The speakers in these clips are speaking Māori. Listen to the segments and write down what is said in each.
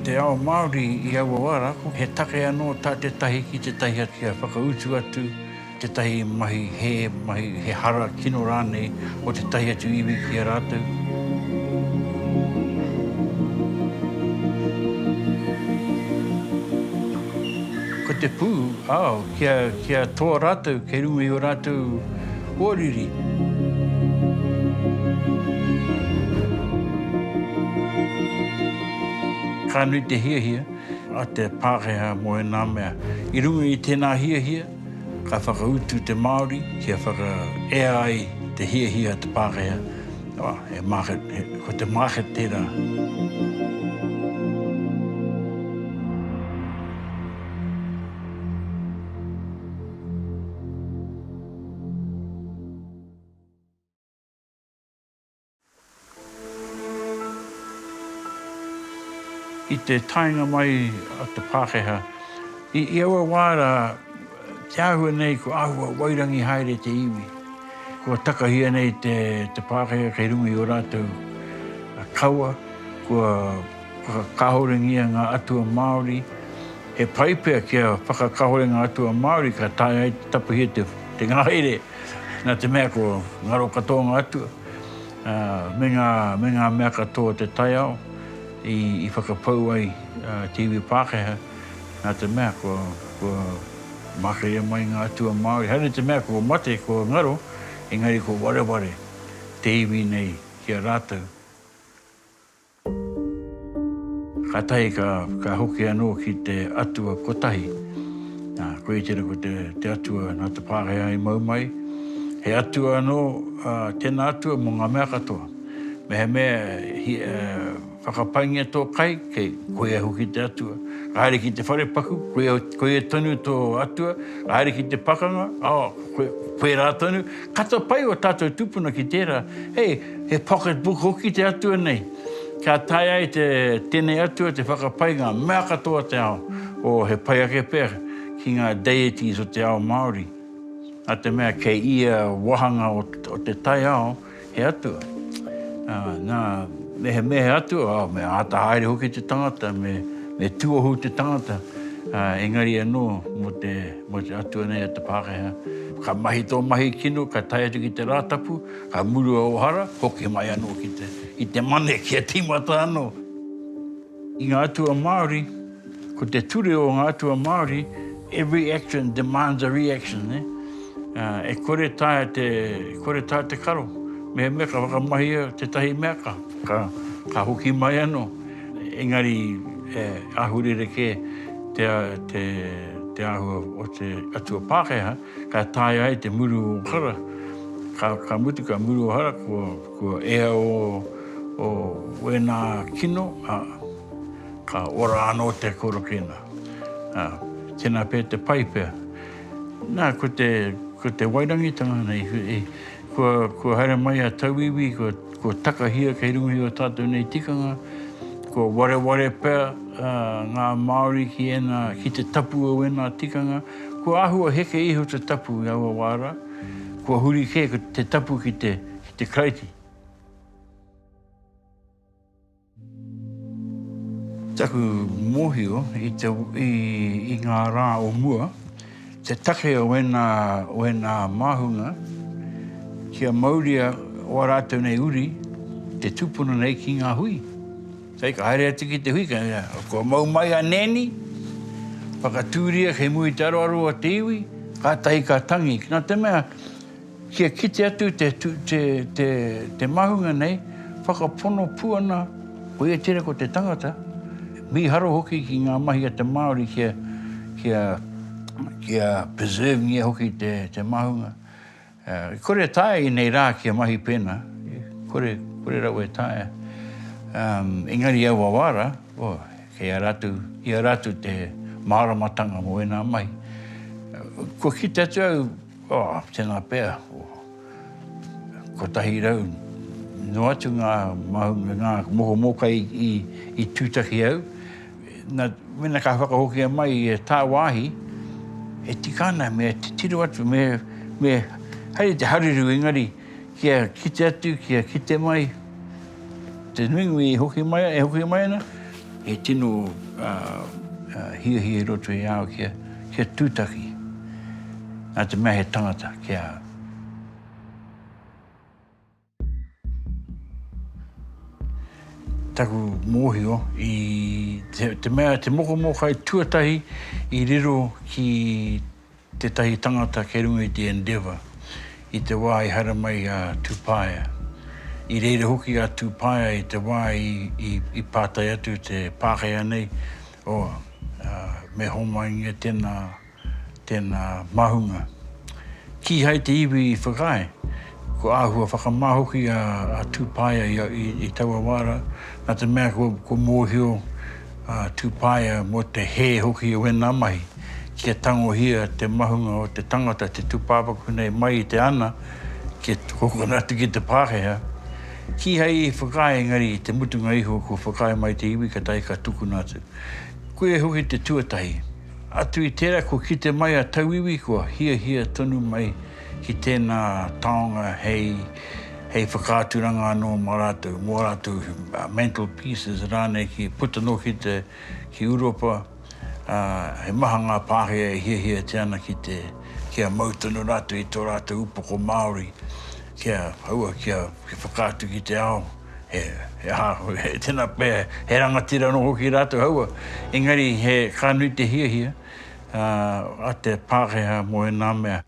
Te ao Māori i aua wā rā, he take anō tā tētahi ki tētahi atu kia whakautu atu tētahi mahi hē, mahi he hara kino rānei o tētahi atu iwi ki a rātou. Ko te pū, ao, kia toa rātou kei runga i ō rātou. Pōriri. Ka nui te hiahia a te Pākehā mō ēnā mea. I runga i tēnā hiahia, ka whakautu te Māori kia whakaea ai te hiahia a te Pākehā, he market, ko te market tērā. I te taenga mai a te Pākehā, i aua wā rā, te āhua nei kua āhua wairangi haere te iwi. Kua takahia nei te Pākehā kei runga i ō rātou kawa, kua. Whakakahorengia ngā atua Māori He pai pea kia whakakahore ngā atua Māori ka taea ai te tapuhia te ngahere nā te mea ko ngaro katoa ngā atua me ngā me ngā mea katoa o te taiao i whakapau ai te iwi Pākehā nā te mea ko kua makaria mai ngā atua Māori haere te mea kua mate ko ngaro engari ko wareware te iwi nei ki a rātou. Kātahi ka hoki anō ki te atua kotahi. Nā, koia tērā ko te atua nā te Pākehā i mau mai. He atua anō tēnā atua mō ngā mea katoa. Mehemea e whakapaingia tō kai, kei, koia hoki te atua. Ka haere ki te wharepaku, koia tonu tō atua. Ka haere ki te pakanga, oh, koirā tonu. Kata pai o tatou tupuna ki tera, hei, he pocket book hoki te atua nei, ka tae ai te tenei atua te whakapai nga mea katoa o te ao, o he pai ake pea ki nga deities o te ao Maori. Na te mea kei ia wahanga o te taiao he atua. Na, mehemea he atua, oh, me ata haere hoki te tangata, me tuohu te tangata, engari ano mo te. Mō te Atua nei a te Pākehā. Ka mahi tō mahi kino, ka tae atu ki te Rātapu, ka murua ō hara, hoki mai anō ki te, ki te Mane kia tīmata anō. I ngā atua Māori, ko te ture o ngā atua Māori, every action demands a reaction, nē? E kore taea te, e kore taea te karo, mehemea ka whakamahia tētahi mea ka, ka, ka hoki mai anō. Engari he ahu rerekē te āhua o te atua Pākehā, ka taea ai te muru o hara, ka mutu ka muru o hara kua ea o wēnā kino, ā, ka ora anō te korokēnā. Ā, tēnā pea te pai pea. Nā, ko te wairangitanga nei, Kua haere mai a Tauiwi, kua takahia kei runga i o tatou nei tikanga, kua wareware pea nga Maori ki te tapu o ena tikanga, kua ahua heke iho te tapu i aua wa ra, kua huri ke te tapu ki te Karaiti. Taku mōhio i te, i ngā rā o mua, te take o ēnā, o ēnā māhunga, kia mauria o ā rātou nei uri, te tūpono nei ki ngā hui. Hei, ka haere atu ki te hui, ka, kua mau mai a Nēni, whakatūria kei muri te aroaro o te iwi, kātahi ka tangi. Nā te mea, Kia kite atu te mahunga nei, whakapono pū ana koia tira ko te tangata, mīharo hoki ki ngā mahi a te Māori kia preservingia hoki te mahunga. E kore e taea i nei rā kia mahi pēnā, kore rawa e taea. Engari i aua wā rā, kei a rātou, i a rātou te māramatanga mō ēnā mahi. Kua kite atu au, Oh, tēnā pea, ko 100 noa atu ngā mahu, ngā moho mōkai i tūtaki au. Na, mena ka whakahokia mai i a tāwāhi, e tika ana, me titiro atu, me haere te hareru engari, kia kite atu, kia kite mai, te nuinui e hoki mai, e hoki mai ana, he tino hiahia i roto i a au kia, kia tūtaki, nā te mea he tangata, kia. Taku mōhio i te, te mea, te mokomōkai tuatahi i riro ki tētahi tangata kei runga i te Endeavour i te wā i haere mai a Tupaea. I reira hoki a Tupaea i te wā i pātai atu te Pākehā nei, oh, me homaingia tēnā, tēnā māhunga. Kīhai te iwi i whakaae, kua āhua whakamā hoki a Tupaea i taua wā rā, nā te mea kua mōhio, Ā, tūpaea mō te hē hoki o ēnā mahi, kia tangohia te mahunga o te tangata te tūpāpaku nei mai i te ana, kia tukokona atu ki te Pākehā. Kīhai i whakaae engari i te mutunga iho kua whakaae mai te iwi katahi ka tukuna atu. Koia hoki te tuatahi. Atu i tērā kua kite mai a tauiwi kua hiahia tonu mai ki tēnā taonga hei, hei whakaaturanga anō mō rātou, mō rātou mental pieces rānei ki puta noa ki te, ki Uropa, ā, he maha ngā Pākehā e hiahiatia ana ki te, kia mau tonu rātou i tō rātou upoko Māori, kia aua, kia, kia whakaatu ki te ao, he, he aha, he tēnā pea, he rangatira anō hoki rātou aua, engari he, ka nui te hiahia, a te Pākehā mō ēnā mea.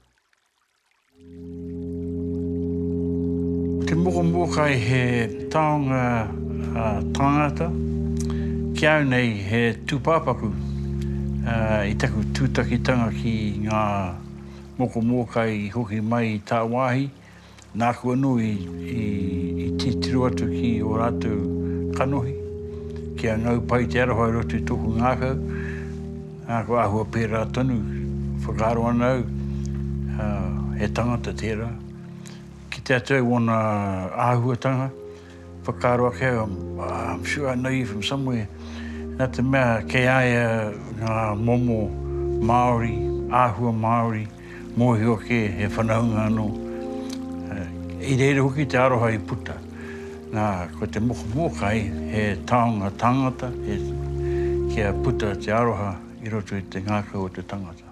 Te mokomōkai he taonga tāngata, ki au nei he tūpāpaku i taku tūtakitanga ki ngā mokomōkai i hoki mai i tāwāhi. Nāku anō i titiro atu ki ō rātou kanohi, kia ngau pai te aroha i roto i tōku ngākau, ā, kua āhua pērā tonu, whakaaro ana au, he tangata tērā. Ki te Atua i wōna āhuatanga. Whakaaro ake au, I'm sure I know you from somewhere, nā te mea kei a ia ngā momo Māori, āhua Māori, mōhio ake he whanaunga anō. I reira hoki te aroha i puta. Nā, ko te mokomōkai, he taonga tāngata, he, kia puta te aroha i roto i te ngākau o te tangata.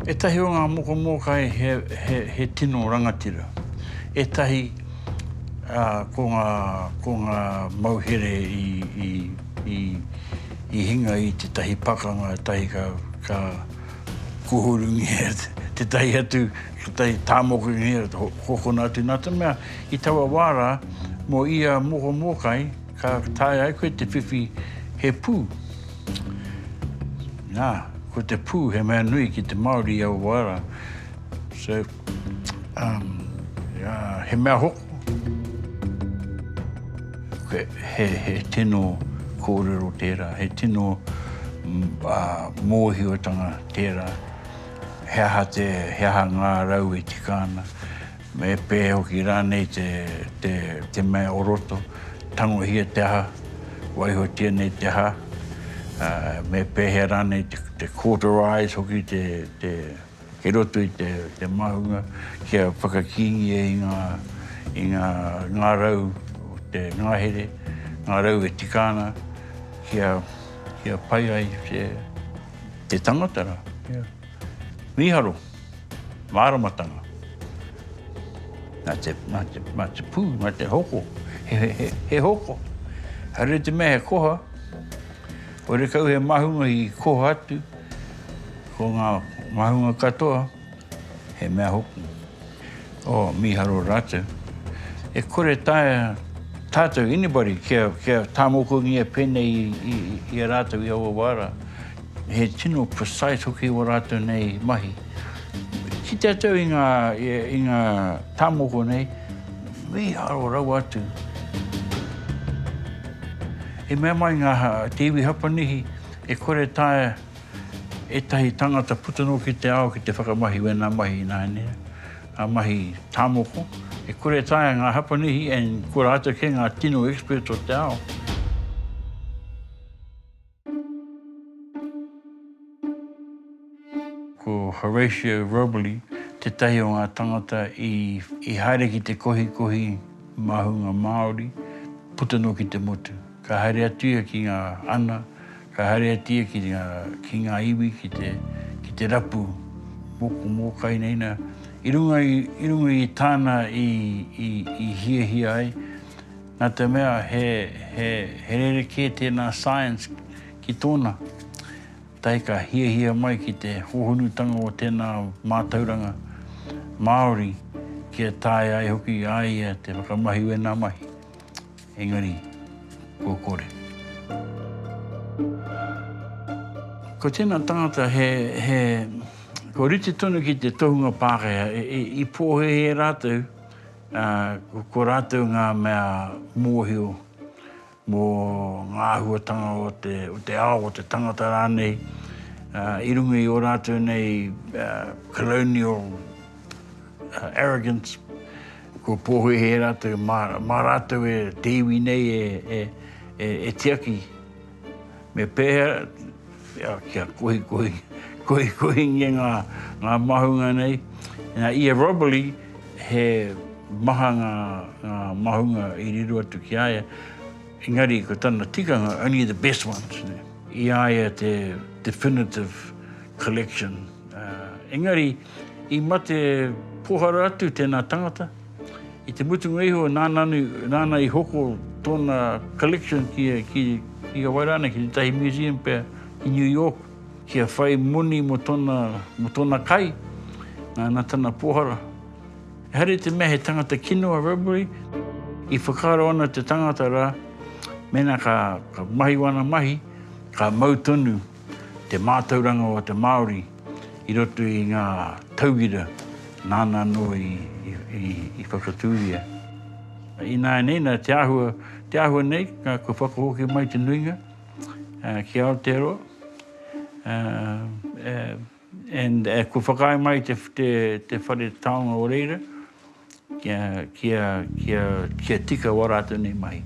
Ētahi o ngā moko mōkai he tino rangatira. Ētahi ko ngā mauhere i hinga i tētahi pakanga, ētahi ka kuhurungia tētahi atu, tētahi tāmokingia, hokona atu. Nā te mea, i taua wā rā, mō ia moko mōkai, Ka taea ai koe te whiwhi he pū. Nā, ko te pū he mea nui ki te Māori i Awaara. So, um, uh, he mea hoko. He, he, he tino kōrero tērā, he tino uh, mōhiotanga tērā. He aha, te, he aha ngā rau e tika ana. Me pē hoki rānei te mea o roto, tangohia te aha, waihotia nei te aha, me pēhea rānei te cauterise hoki kei roto i te maunga kia whakakīngia i ngā rau o te ngahere, ngā rau e tika ana kia pai ai te tangata rā. Mīharo. Māramatanga. Nā te, nā te, nā te pū, nā te hoko, he, he, he hoko. Haere te mea he koha, haere kau he mahunga i koha atu, ko ngā mahunga katoa, he mea hoki. O, oh, mīharo rātou. E kore tae tātou, anybody, kia, kia tāmokuangia pēnei i, i, i a rātou i aua wāra. He tino precise hoki o rātou nei mahi. Ki te atau i ngā, i ngā tāmoko nei, mīharo rawa atu. I mea mai ngā, te iwi Hapanihi, e kore taea ētahi tāngata puta noa ki te ao ki te whakamahi wēnā mahi ināianei, ngā mahi tāmoko. E kore taea ngā Hapanihi, and ko rātou kē ngā tino expert o te ao. Ko Horatio Robley tētahi o ngā tangata i haere ki te kohikohi māhunga Māori puta noa ki te motu. Ka haere atu ia ki ngā ana, ka haere atu ia ki ngā iwi, ki te rapu moko mōkai nei nā. I runga i tāna i hiahia ai, Nā te mea he, he, he rerekē tēnā science ki tōna tae ka hiahia mai ki te hōhonutanga o tēnā mātauranga Māori kia taea ai hoki a ia te whakamahi wēnā mahi. Engari, kua kore. Ko tēnā tangata he, he, kua rite tonu ki te tohunga Pākehā, i, i pōhēhē rātou, Ko rātou ngā mea mōhio mō ngā āhuatanga o te ao, o te tangata rānei, i runga i ō rātou nei colonial arrogance, kua pōhēhē rātou, mā rātou te iwi nei e tiaki. Me pēhea kia kohikohingia ngā māhunga nei? Nā, i a Robley, he maha ngā māhunga i riro atu ki a ia, engari ko tana tikanga, only the best ones, i a ia te definitive collection. Engari. I mate pohara atu tēnā tangata. I te mutunga iho, nāna i hoko tōna collection ki a wai rānei, ki tētahi museum pea ki New York, kia whai moni mō tōna kai, nā tana pohara. Haere te mea he tangata kino a Robery, i whakaaro ana te tangata rā, mēnā ka mahi wāna mahi, ka mau tonu. Te mātauranga o te Māori i roto i ngā tauira nāna anō i whakatūria. Ināianei, nā te āhua, te āhua nei, kua whakahoki mai te nuinga ki Aotearoa, and, kua whakaae mai te whare taonga o reira kia tika wā rātou nei mahi.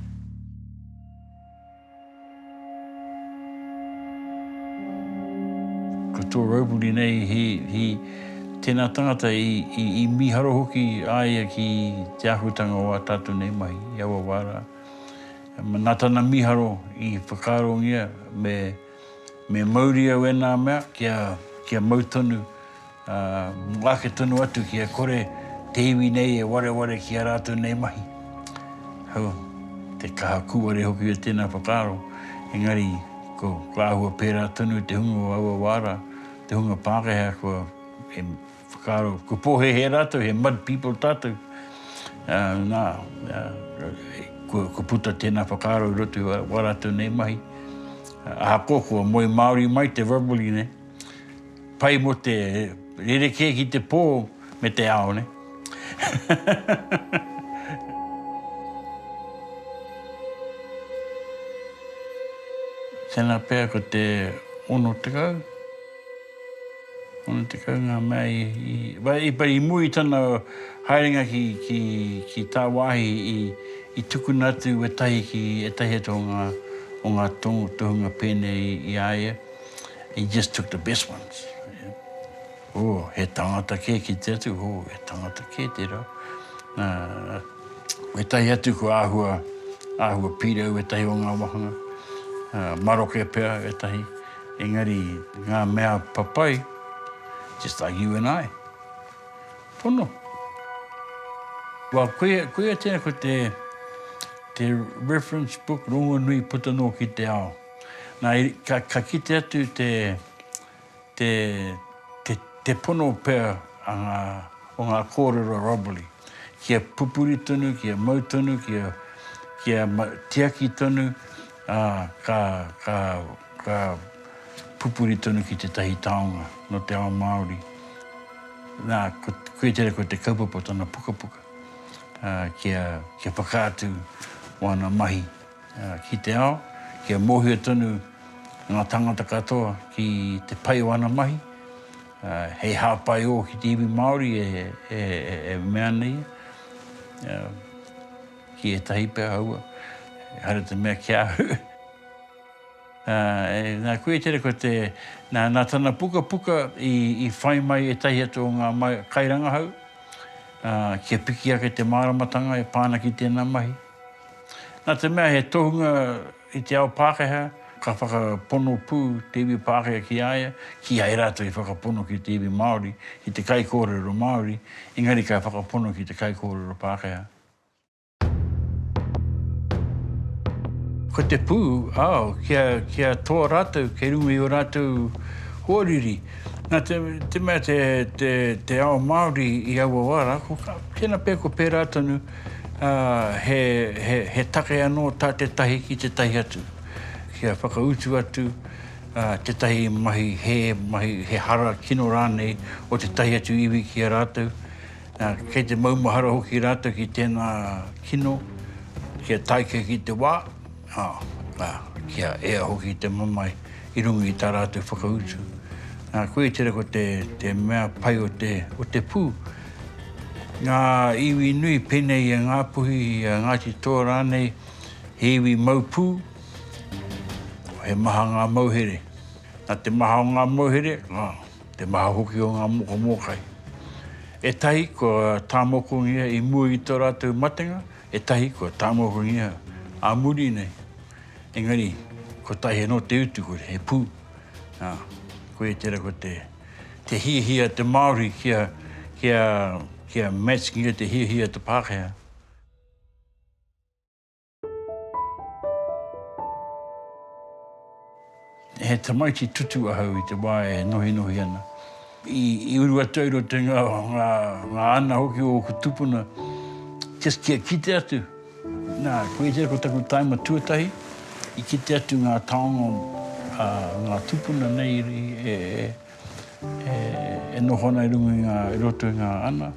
Ko tō Raupuni nei he he tēnā tangata i mīharo hoki a ia ki te āhuatanga o ā tātou nei mahi i aua wā rā. Nā tana mīharo i whakaarongia me mauria wēnā mea kia mau tonu Ā, mō ake tonu atu kia kore te iwi nei e wareware ki ā rātou nei mahi. Hau, te kaha kūare hoki o tēnā whakaaro, engari ko, ko āhua pērā tonu te hunga o aua wā rā, te hunga Pākehā kua, he whakaaro, ko pōhēhē rātou, he mud people tātou. Ā, nā, ā, kua, kua puta tēnā whakaaro i roto i ā rātou nei mahi. Ahakoa kua moe māori mai te verbally nei, Pai mo te rerekē ki te pō me te ao, nē. Tēnā pea ko te 60. 60 ngā mea i mua i tana haerenga ki tāwāhi i tukuna atu wētahi ki ētahi atu o ngā tohunga pēnei i a ia. He just took the best ones. Oh, he tangata kē ki te atu, oh, he tangata kē tērā. Wētahi atu ko āhua, āhua pīrau wētahi o ngā wāhanga, maroke pea wētahi, engari ngā mea papai, just like you and I, pono. Well, koia, koia tērā ko te, te reference book rongonui puta noa ki te ao. Na, ka kite atu te, te, te, te pono pea a nga, o nga korero a Robley, kia pupuri tonu, kia mau tonu, kia, kia tiaki tonu, a, ka, ka, ka pupuri tonu ki tetahi taonga no te ao Maori. Na, ko, koia tera ko te kaupapa o tana pukapuka, a, kia, kia whakaatu o ana mahi. ki te ao, kia mōhio tonu ngā tāngata katoa ki te pai o ana mahi, hei hāpai ō ki te iwi Māori e mea ana ia, ki ētahi pea aua, ehara te mea ki a au. Nā koe i tere ko te, nā tana pukapuka i whai mai ētahi atu o ngā kairangahau, kia piki ake te māramatanga e pā ana ki tēnā mahi. Nā te mea he tohunga i te ao Pākehā, ka whakapono pū te iwi Pākehā ki a ia, kīhai e rātou i whakapono ki te iwi Māori, ki te kaikōrero Māori, engari ka whakapono ki te kaikōrero Pākehā. Ko te pū, ao, kia, kia toa rātou kei runga i ō rātou hoariri. Nā te, te mea te, te, te ao Māori i aua wā rā, ko, tēnā pea ko pērā tonu, he take anō tā tētahi ki tētahi atu, kia whakautu atu tētahi mahi hē, mahi he hara kino rānei o tētahi atu iwi ki a rātou. Kei te maumahara hoki rātou ki tēnā kino, kia tāika ki te wā, kia ea hoki te mamae i runga i tā rātou whakautu. Koia tērā ko te mea pai o te pū. Ngā iwi nui pēnei e Ngāpuhi, a Ngāti Toa rānei, he iwi mau pū, he maha ngā mauhere. Nā te maha o ngā mauhere, te maha hoki o ngā moko mōkai. Ētahi kua tāmokongia i mua i tō rātou matenga, ētahi kua tāmokongia ā muri nei. Engari, kotahi anō te utu, he pū. Koia tērā ko te. te hiahia te Māori kia, kia, kia matchingia te hiahia te Pākehā. He tamaiti tutu ahau i te wā e nohinohi ana. I, i uru atu ai rau te ngā, ngā, ngā ana hoki o ōku tupuna, just kia kite atu. Nā, koia ko taku taima tuatahi i kite atu ngā taonga a ngā tūpuna nei e noho ana i runga i ngā, i roto i ngā ana.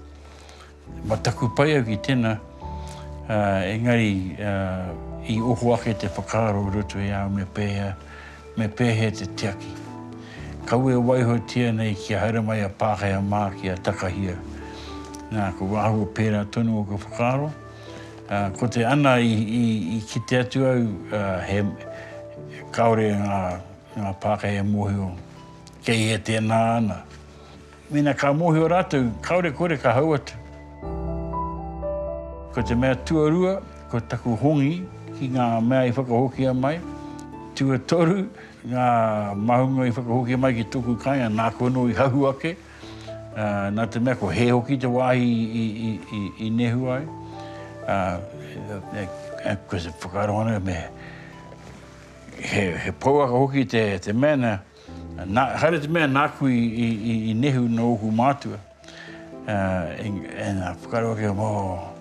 Mataku pai au ki tēnā, engari i oho ake te whakaaro i roto i a au me pēhea, me pēhea te tiaki. Kaua e waihotia nei kia haere mai a Pākehā mā kia takahia. Nā, kua āhua pērā tonu ōku whakaaro. Ko te ana i kite atu au he kaore nga Pākehā e mohio kei hea tēnā ana. Mena ka mohio ratou kaore kore ka hau atu. Ko te mea tuarua ko taku hongi ki nga mea i whakahokia mai, tuatoru nga mahunga i whakahokia mai ki toku kainga naku ano i hahu ake. Nā te mea ko hē hoki te wāhi i nehu ai, ko te whakaaro ana me he pouaka hoki te mea nā, haere te mea nāku i nehu nō ōku mātua, engari whakaaro ake, oh,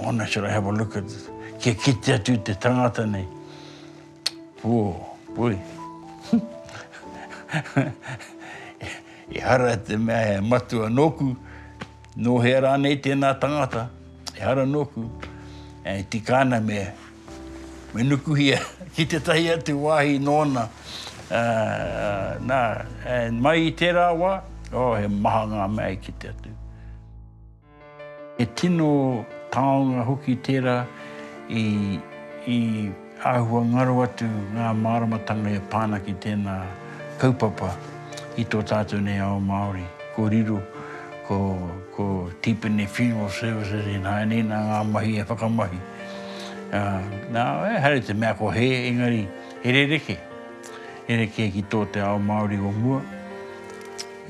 wonder should I have a look at, kia kite atu i te tangata nei. Pū, pui. Ehara i te mea he matua nōku, nō hea rānei tēnā tangata, ehara nōku, e tika ana me nukuhia ki tētahi atu wāhi nōna. Nā, mai i tērā wā, oh, he maha ngā mea i kite atu. He tino taonga hoki tērā i āhua ngaro atu ngā māramatanga e pā ana ki tēnā kaupapa i tō tātou nei ao Māori. Ko riro, ko Tipene Funeral Services ināianei, ina ngā mahi e whakamahi. Nā, haere te mea ko hē, engari he rerekē. Rerekē ki tō te ao Māori o mua.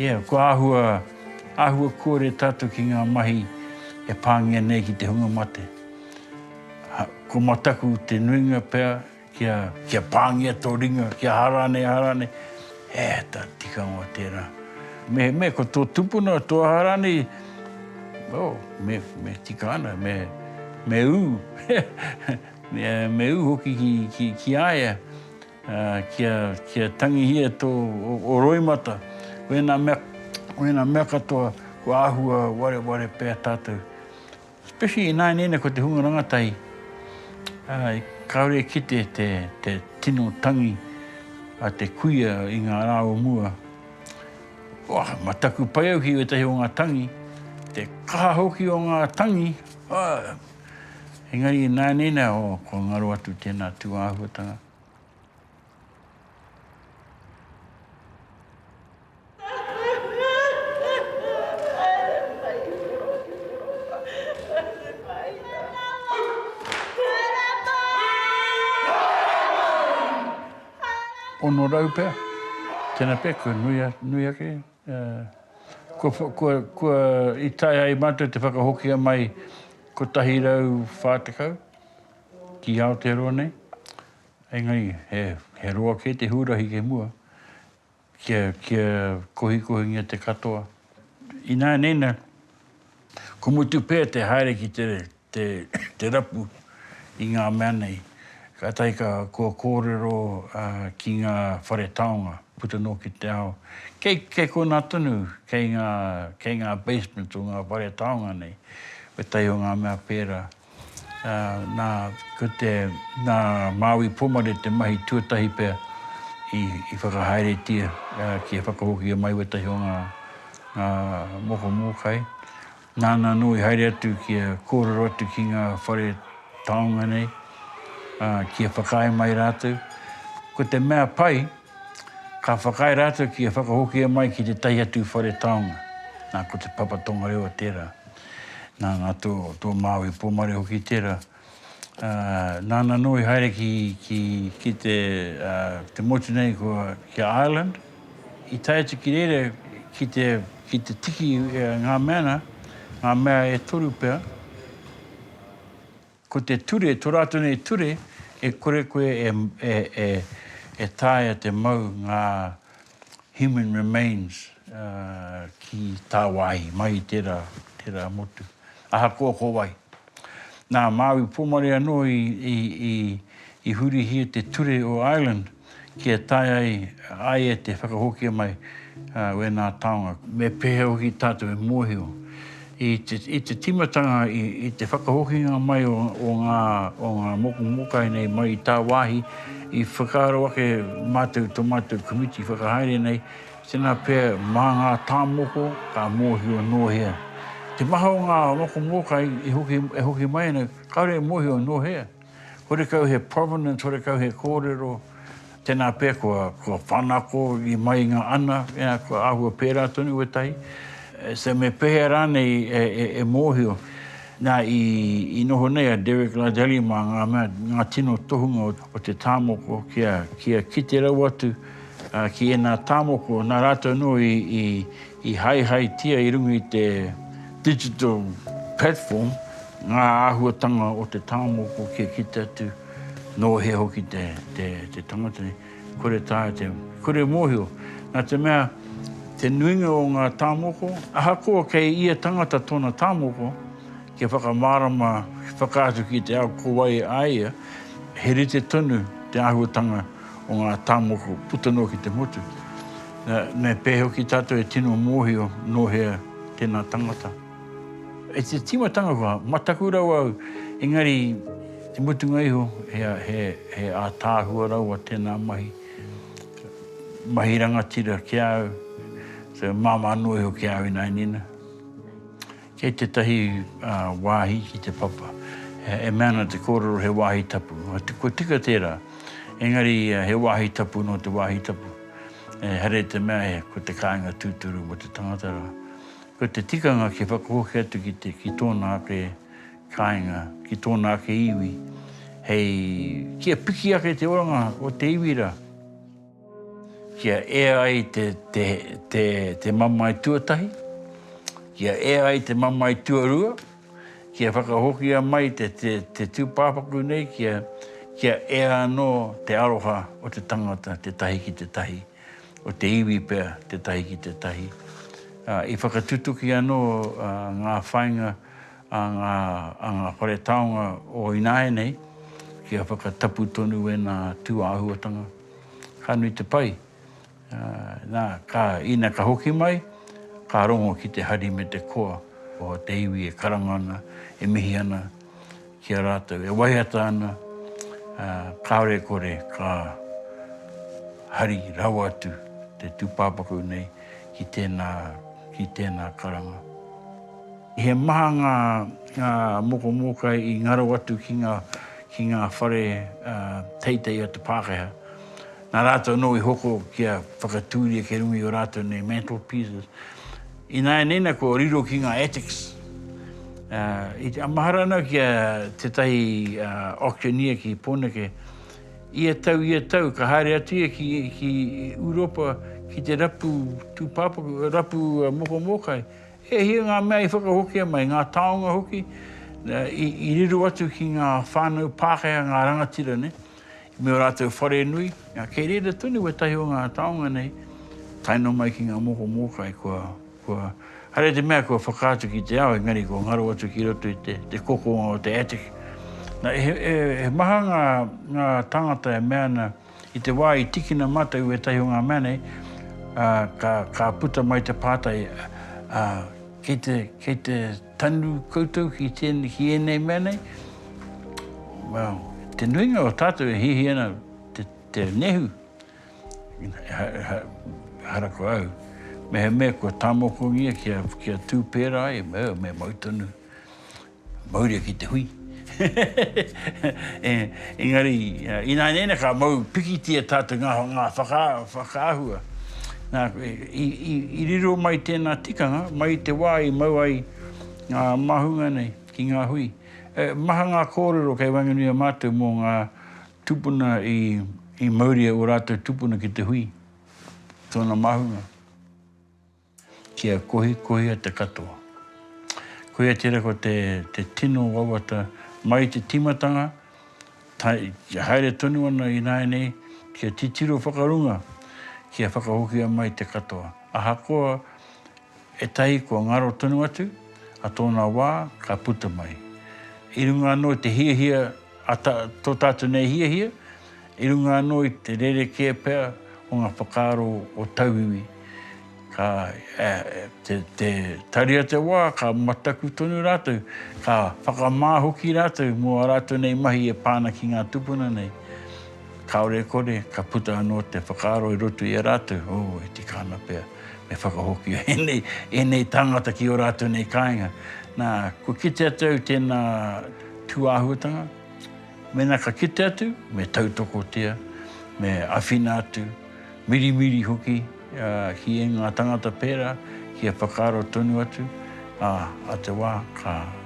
Ia, kua āhua. Āhua kore tātou ki ngā mahi e pāngia nei ki te hunga mate. Ko mataku te nuinga pea kia, kia pāngia tō ringa, kia aha rānei, aha rānei. He āta tikanga tērā. Me, me ko tō tupuna, tō aha rānei, oh, me, me tika ana, me, me ū, me, me ū hoki ki, ki, ki a ia. Kia tangihia tō roimata, wēnā mea, wēnā mea katoa kua āhua wareware pea tātou. Especially ināianei ko te hunga rangatahi, kāore e kite te, te tino tangi a te kuia i ngā rā o mua. Wā, mā taku pai au ki ētahi o ngā tangi, te kaha hoki o ngā tangi, ā, Engari ināianei nei aho kua ngaro atu tēnā tūāhuatanga. Ono rau pea, tēnā pea kua nui ake. Kua i taea e mātou te whakahokia mai 140 ki Aotearoa nei, engari he roa kē te hurahi kei mua kia kohikohingia te katoa. Ināianei nā, kua mutu pea te haere ki te te rapu i ngā mea nei. Kātahi ka, kua kōrero ki ngā whare taonga, puta noa ki te ao. Kei, kei konā tonu, kei ngā, kei ngā basements o ngā whare taonga nei, ētahi o ngā mea pērā. Nā, ko te, nā Māui Pomare te mahi tuatahi pea i, i whakahaeretia kia whakahokia mai wētahi o ngā, ngā moko mōkai. Nāna anō i haere atu kia kōrero atu ki ngā whare taonga nei, ā, kia whakaae mai rātou. Ko te mea pai, ka whakaae rātou kia whakahokia mai ki tētahi atu whare taonga. Nā, ko te Papa Tongarewa tērā. Nā, nā tō, tō Māui Pōmare hoki tērā. Nāna anō i haere ki te motu nei ki a Ireland. I tae atu ki reira ki te tiki ngā mea ana, ngā mea e toru pea, ko te ture, tō rātou nei ture, e kore koe e taea te mau ngā human remains ki tāwāhi, mai i tērā motu, ahakoa ko wai. Nā Māui Pōmare anō i hurihia te ture o Ireland kia tae ai a ia te whakahokia mai a wēnā taonga. Me pēhea hoki tātou e mōhio i te tīmatanga i te whakahokinga mai o ngā moku mōkai nei mai i tāwāhi i whakaaro ake mātou tō mātou komiti whakahaere nei Tēnā pea, mā ngā tāmoko ka mōhio nō hea te maha o ngā moko mōkai e hoki mai ana, kāore e mōhio nō hea horekau he provenance, horekau he kōrero, tēnā pea kua whanako i mai i ngā ana, kua āhua pērā tonu wētahi, so me pēhea rānei e mōhio. Nā, i noho nei a Derek Lardelli mā ngā mea, ngā tino tohunga o te tāmoko kia kite rawa atu, Ki ēnā tāmoko, nā rātou anō i haehaetia i runga i te digital platform ngā āhuatanga o te tāmoko kia kite atu nō hea hoki te tangata nei. Kore e taea te, kore e mōhio, nā te mea te nuinga o ngā tāmoko, ahakoa kei ia tangata tōna tāmoko, kia whakamārama, whakaatu ki te ao ko wai a ia, he rite tonu te āhuatanga o ngā tāmoko puta noa ki te motu. Me pēhea hoki tātou e tino mōhio nō hea tēnā tangata. I te tīmatanga kua mataku rawa au, engari te mutunga iho he ātaahua rawa tēnā mahi, mahi rangatira ki a au, māmā noa iho ki a au ināianei nei. Kei tētahi wāhi ki te papa, e mea ana te kōrero he wāhi tapu. Kua tika tērā, engari he wāhi tapu nō te wāhi tapu. Ehara i te mea ko te kāinga tūturu mō te tangata rā. Ko te tikanga kia whakahoki atu ki tōna ake kāinga, ki tōna ake iwi, hei kia piki ake te oranga o te iwi rā. Kia e ai te mamae tuatahi, kia e ai te mamae tuarua, kia whakahokia mai te tūpāpaku nei kia ea anō te aroha o te tangata te tahi ki te tahi, o te iwi pea te tahi ki te tahi. I whakatutuki anō ngā whāinga a ngā whare taonga o ināianei kia whakatapu tonu ēnā tūāhuatanga. Ka nui te pai. Na, ka, ina ka hoki mai, ka rongo ki te hari me te koa o te iwi e karanga ana, e mihi ana ki a ratou, e waiata ana, kaore e kore ka hari rawa atu te tupapaku nei ki tena, ki tena karanga. He maha ngā moko mōkai i ngaro atu ki ngā whare teitei o te Pākehā. Nā rātou anō i hoko kia whakatūria kei runga i ō rātou nei mantelpieces. Ināianei nā kua riro ki ngā attics. A mahara ana ki a tētahi auctioneer ki Pōneke, ia tau, ia tau, ka haere atu ia ki Ūropa ki te rapu tūpāpaku, rapu moko mōkai, He hia ngā mea i whakahokia mai, ngā taonga hoki, i riro atu ki ngā whānau Pākehā, ngā rangatira nei, me ō rātou wharenui. Kei reira tonu wētahi o ngā taonga nei, tae noa mai ki ngā moko mōkai, kua haere te mea kua whakaatu ki te ao, engari kua ngaro atu ki roto i te kokonga o te attic. He maha ngā tāngata e mea ana, I te wā i tikina mātou ētahi o ngā mea nei, ka puta mai te pātai, kei te tanu koutou ki ēnei mea nei? Well, te nuinga o tātou e hiahia ana te nehu, ehara ko au, mehemea kua tāmokongia kia tū pērā ai, me mau tonu. Mauria ki te hui. Engari, ināianei ka mau pikitia tātou ngā whakaahua. Nā, i riro mai tēnā tikanga, mai i te wā i mau ai ngā māhunga nei ki ngā hui. Maha ngā kōrero kei waenganui a mātou mō ngā tupuna i mauria ō rātou tupuna ki te hui, tōna māhunga. Kia kohikohia te katoa. Koia tērā ko te tino wawata mai i te tīmatanga, kia haere tonu ana ināianei, kia titiro whakarunga, kia whakahokia mai te katoa. Ahakoa ētahi kua ngaro tonu atu, a tōna wā ka puta mai. I runga anō i te hiahia A ta, to tatu nei hiahia, i runga ano i te rerekē pea o nga whakaaro o tauiwi, ka, te, te taria te wa, ka mataku tonu ratou, ka whakama hoki ratou mo a ratou nei mahi e pa ana ki nga tupuna nei. Kaore e kore, ka puta ano te whakaaro i roto i a ratou, oh, e tika ana pea. Me whakahokia ēnei, ēnei tāngata ki ō rātou nei kāinga. Nā, kua kite atu au tēnā tūāhuatanga, mēnā ka kite atu, me tautokotia, me awhina atu, mirimiri hoki ki ēngā tāngata pērā, kia whakaaro tonu atu, ā, ā te wā ka.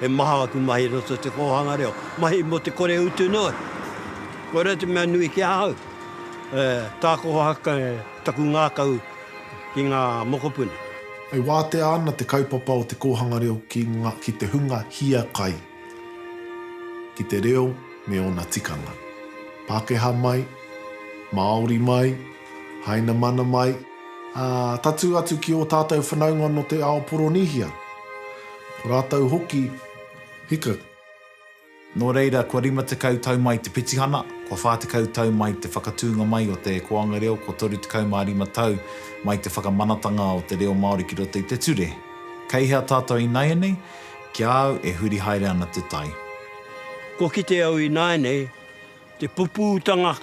He maha aku mahi i roto i te kōhanga reo, mahi mō te kore utu noa. Koirā te mea nui ki ahau, tākohahaku taku ngākau ki ngā mokopuna. E wātea ana te kaupapa o te kōhanga reo ki ngā, ki te hunga hiakai, ki te reo me ōna tikanga. Pākehā mai, Māori mai, Hainamana mai, ā, tatū atu ki ō tātou whanaunga nō te ao Poronīhia, ko rātou hoki, hika. Nō reira, kua 50 tau mai te petihana, kua 40 tau mai te whakatūnga mai o te koanga reo, kua 35 tau mai te whakamanatanga o te reo Māori ki roto i te ture. Kei hea tātou ināianei? Ki a au, e huri haere ana te tai. Kua kite au ināianei, Te pupūtanga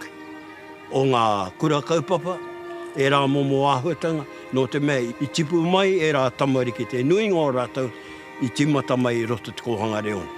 o ngā kura kaupapa, ērā momo āhuatanga, nō te mea i tipu mai ērā tamariki, te nuinga o rātou i tīmata mai i roto i te kōhanga reo nei.